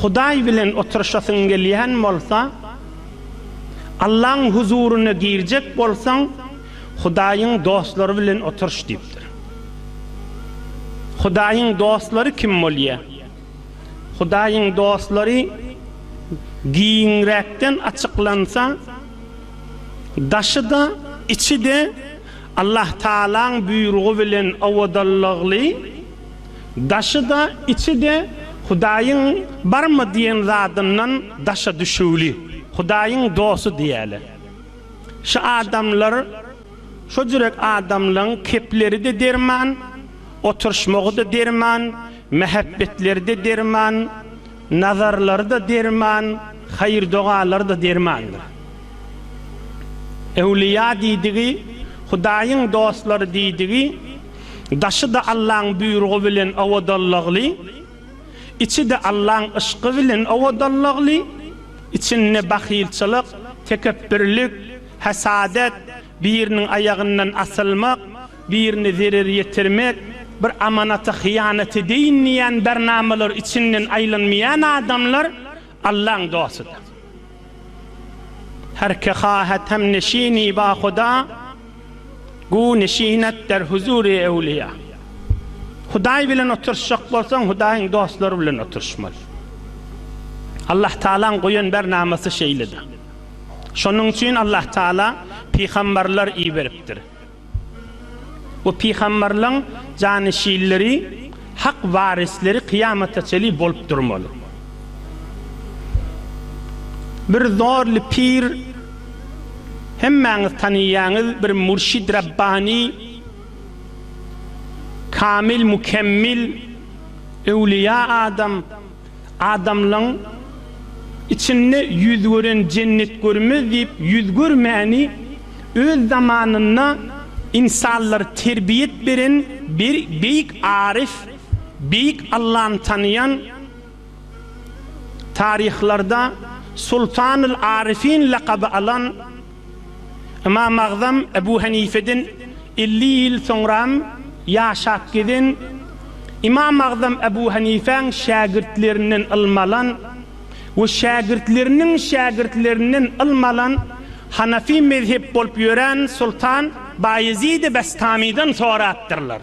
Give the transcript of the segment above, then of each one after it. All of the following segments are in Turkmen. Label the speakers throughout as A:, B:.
A: Hudaý bilen oturyşasyň gelýän bolsa, Allaň huzuryna girjek bolsaň, Hudaýyň dostlary bilen oturyş diýipdir. Hudaýyň dostlary kim bolýar? Hudaýyň dostlary giňräkden açyklansa, daşy-da, içi-de Allahtagalaň buýrugy bilen owadanlykly, Daşy-da, içi-de Hudaýyň barmy diýen zadyndan daşa düşüwli, Hudaýyň dosty diýýäler. Şu adamlar, şo jürek adamlaryň kepleri-de derman, oturyşmagy-da derman, mähebbetleri-de derman, nazarlary-da derman, haýyr-dogalary-da dermandyr. Öwlüýa diýdigi, Hudaýyň dostlary diýdigi Daşy-da Allaň buýrugy bilen owadanlygly, içi-de Allaň yşky bilen owadanlygly, içinde bahylçylyk, tekepbirlik, hesadet, biriniň aýagyndan asylmak, birine zerer ýetirmek, bir amanata hyýanat edeýin diýýän bernamalar içinden aýlanmaýan adamlar Allaň dostudyr. Her ki hahet hem neşini ba Huda, gu neşin et der huzuri ewliýa. Hudaý bilen oturşjak bolsaň, Hudaýyň dostlary bilen oturşmaly. Allah Tagalaň goýan bernamasy şeýledir. Şonuň üçin Allah Tagala pygambarlar iberipdir. Bu pygamberleň janyşinleri, hak warisleri kyýamata çenli bolup durmaly. Bir zorly pir, hemmäňiz tanaýaňyz, bir mürşid rabbani, kamil mükemmil, öwlüýa adam, Adamlaň içinde ýüz gören jennet görmez diýip ýüz görmäni öz zamanynda insanlary terbiýet beren bir beýik aryf, beýik Allany tanaýan taryhlarda Sultanyl Aryfyn lakaby alan Ymam Agzam Ebu Henifeden elli ýyl soňram ýaşap gezen, Ymam Agzam Ebu Henifäň şägirtlerinden ylmy alan we şägirtleriniň şägirtlerinden ylmy alan hanafi mezhep bolup ýören Sultan Baýezidi Bestamydan sorapdyrlar.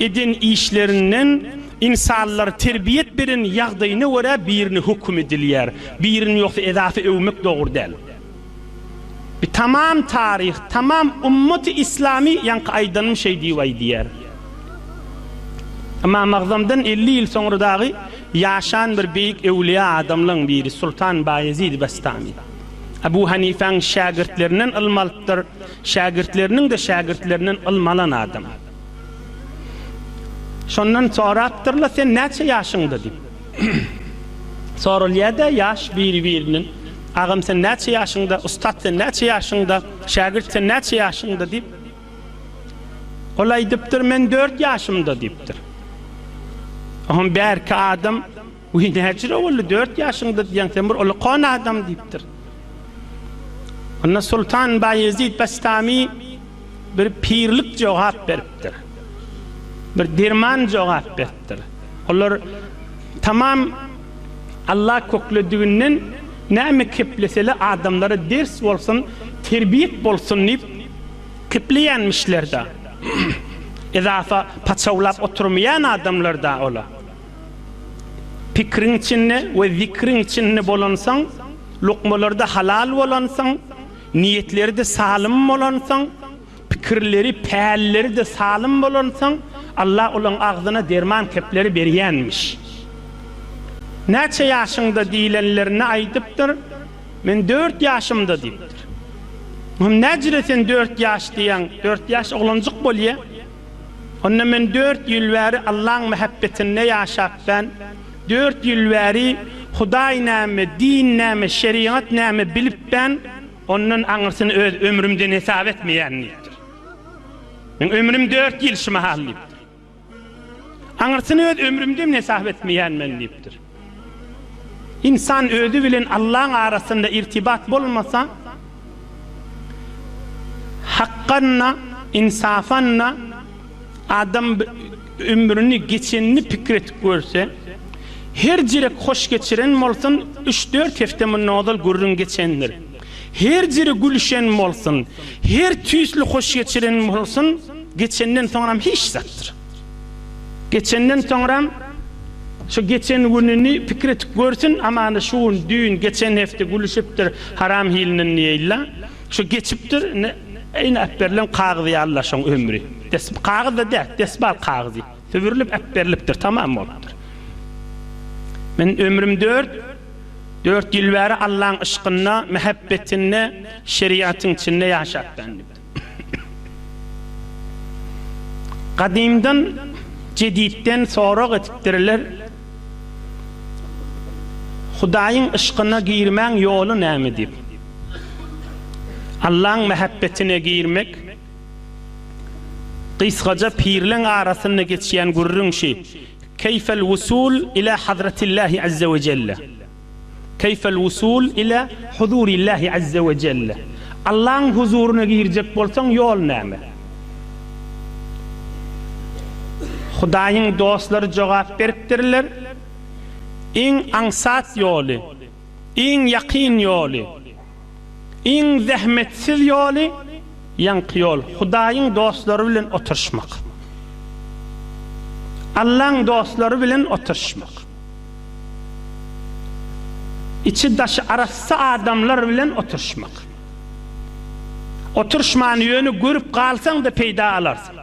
A: Eden işlerinden ynsanlar terbiýet beren ýagdaýyna görä birini höküm edilýär, birini ýogsa edasy öwmek dogry däl. Bi tamam taryh, tamam ummaty islamy ýaňky aýdanym şeý diýip aýdýar. Ymam Agzamdan elli ýyl soňra dagy ýaşan bir beýik öwlüýa adamlaň biri Sultan Baýezid Bastami. Abu Hanifäň şägirtlerinden ylym alypdyr. Şägirtleriniň-de şägirtlerinden ylmy alan adam. Şondan sorapdyr-la, Sen näçe ýaşyňda? diýip. Soralýar-da ýaş biri-birinden. Agam, sen näçe ýaşyňda? Ussat, sen näçe ýaşyňda? Şägirt, sen näçe ýaşyňda? diýip. Ol aýdypdyr, Men dört ýaşymda diýipdir. Oňa bärki adam. Wiý, näçe boldy, dört ýaşyňda diýýäň, sen bir ulkan adam diýipdir. Onda Sultan Baýezit Bestami bir pirlik jogap beripdir. Bir derman jogap beripdir. Olar tamam Alla köklediginden näme kepleseler adamlara ders bolsun, terbiýek bolsun diýip kepleýänmişler-de. Edafa paçawlap oturmaýan adamlar-da olar. Pikriň içinde we zikriň içinde bolansoň, lukmalarda halal bolansoň, niýetleri-de salym bolansoň, pikirleri, pälleri-de salym bolansoň, Allah olaň agzyna derman kepleri berýänmiş. Näçe ýaşyňda diýlenlerine aýdypdyr, Men dört ýaşymda diýipdir. Muhym, näjire sen dört ýaş diýýäň, dört ýaş oglanjyk bolýa. Onda men dört ýyl bäri Allaň mähebbetinde ýaşap ben, dört ýyl bäri Hudaý näme, din näme, şerigat näme bilip ben, ondan aňyrsyny öz ömrümden hesap etmeýän diýipdir. Meň ömrüm dört ýyl şu mahal diýipdir. Aňyrsyny öz ömrümden hesap etmeýän men diýipdir. Ynsan özi bilen Allaň arasynda irtibat bolmasa, hakgan-da, ynsapan-da adam ömrüni geçenini pikir edip görse, her jirek hoş geçiren bolsun, üç-dört hepde mundan ozal gürrüň geçendir. Her jire gülüşen bolsun, her tüýsli hoş geçiren bolsun, geçenden soňram hiç zatdyr. Geçenden soňram, şu geçen gününi pikir edip görsün, aman-a şu gün, düýn, geçen hepde gülüşipdir haram hilinden diýeýinler. Şu geçipdir, indi ýene äpberilen kagyz ýaly la şoň ömri. Des, kagyz-da däl, desbal kagyzy. Sübürilip äpberilipdir, tamam bolupdyr. Men ömrüm dört, dört ýyl bäri Allaň yşkynda, mähebbetinde, şeriýatyň içinde ýaşapdym. Gadymdan jeditden sorag edipdirler, Hudaýyň yşkyna girmäň ýoly näme diýip. Allaň mähebbetine girmek, gysgaja pirleň arasynda geçýän gürrüň şi, Keýfel wusul ilâ hazretillahi azze we jelle. Keýfel wusul ile huzurillahi azze we jelle, Allaň huzuryna girjek bolsaň ýol näme? Hudaýyň dostlary jogap beripdirler, Iň aňsat ýoly, iň ýakyn ýoly. Iň zähmetsiz ýoly, ýaňky ýol, Hudaýyň dostlary bilen oturyşmak. Allaň dostlary bilen oturyşmak. Içi-daşy arassa adamlar bilen oturyşmak. Oturyşman ýöne görüp galsaň-da peýda alarsyň.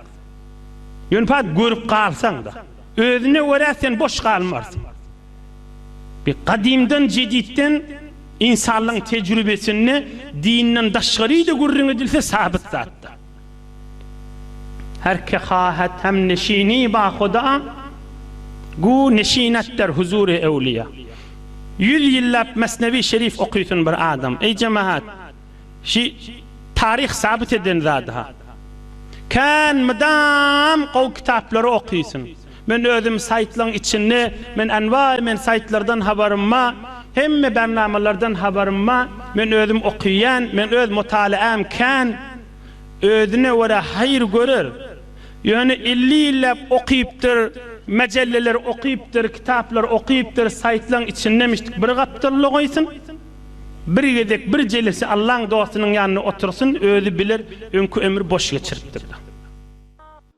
A: Ýöne görüp galsaň-da. Özüne görä sen boş galmarsyň. Bi gadymdan jeditden ynsanlygyň tejrübesinde dinden daşgaryda gürrüň edilse sabyt zatdyr. Her ki hahet hem neşini ba Huda, gu neşinat der huzury ewliýa. Ýüz ýyllap Mesnewi şerif okysyn bir adam. Eý jemahat, şi taryh sabyt eden zady-ha. Kän mydam gowy kitaplary okysyn. Men özüm saýtlaň içinde men anbaý men saýtlardan habarym ba hemme barnamalardan habarym ba men özüm okyýan men öz mutalaam kän özüne görä haýyr görer ýöne elli ýylläp okypdyr majallalar okypdyr kitaplar okypdyr saýtlaň içinde müşdik bir gapdal logaýsyn bir gezek bir jelesi Allaň dostunyň ýanynda otursyn özi biler öňki ömri boş geçiripdir.